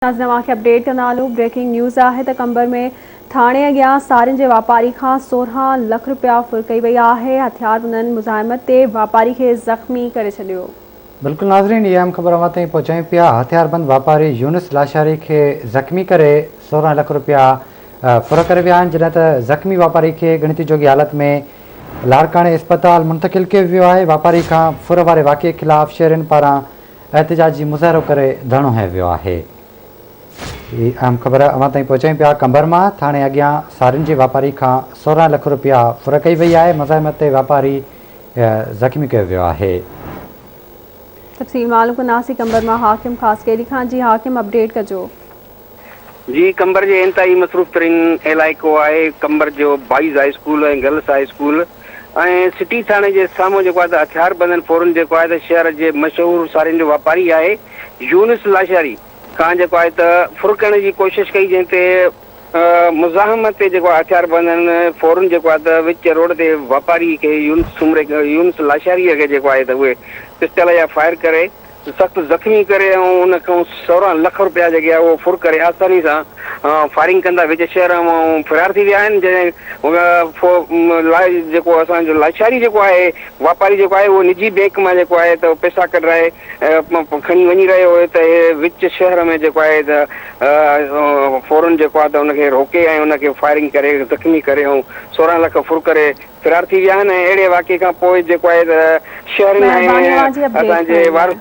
ناظرين اوهان کي اپڊيٽ ڪندا هلون بريڪنگ نيوز آهي ته قمبر ۾ ٿاڻي اڳيان سارين جي واپاري کان سورهن لک رپيا ڦر ڪئي وئي آهي هٿياربندن مزاحمت تي واپاري کي زخمي ڪري ڇڏيو. بلڪل ناظرين اها اهم خبر اوهان تائين پهچايون پيا هٿياربند واپاري يونس لاشاري کي زخمي ڪري سورهن لک رپيا ڦر ڪري ويا آهن جڏهن ته زخمي واپاري کي ڳڻتي جوڳي حالت ۾ لاڙڪاڻي اسپتال منتقل ڪيو ويو آهي واپاري کان ڦر واري واقعي خلاف شهرين پاران احتجاج جي مظاهرو ڪري ڌرڻو هنيو ويو آهي. هي اهم خبر اوهان تائين پهچايون پيا قمبر مان ٿاڻي اڳيان سارين جي واپاري کان سورهن لک روپيا ڦر ڪئي وئي آهي مزاحمت تي واپاري زخمي ڪيو ويو آهي. تفصيل معلوم ڪنداسين قمبر مان حاڪم خاصخيلي کان جي حاڪم اپڊيٽ ڪجو. جي قمبر جي انتهائي مصروف ترين علائقو آهي. قمبر جو boys high school ۽ girls high school ۽ city ٿاڻي جي سامهون جيڪو آهي ته هٿيار بندن فورن جيڪو آهي ته شهر جي مشهور سارين جو واپاري آهي يونس لاشاري کان جيڪو آهي ته ڦرڪڻ جي ڪوشش ڪئي جنهن تي مزاحمت تي جيڪو آهي هٿيار بندن فورن جيڪو آهي ته وچ روڊ تي واپاري کي يونس سومري يونس لاشاري کي جيڪو آهي ته اهي پسٽل جا فائر ڪري سخت زخمي ڪري ۽ ان کان سورهن لک رپيا جيڪي آهي اهو ڦر ڪري آساني سان فائرنگ ڪندا وچ شهر مان فرار ٿي ويا آهن جنهن لاء جيڪو اسان جو لاشاري جيڪو آهي واپاري جيڪو آهي اهو نجي بينڪ مان جيڪو آهي ته پئسا ڪڍرائي کڻي وڃي رهيو هو ته وچ شهر ۾ جيڪو آهي ته فورن جيڪو آهي ته ان کي روڪي ۽ ان کي فائرنگ ڪري زخمي ڪري ۽ سورهن لک ڦر ڪري فرار ٿي ويا آهن ۽ اهڙي واقعي کان پوء جيڪو آهي ته شهرين ۽ اسان جي وارثن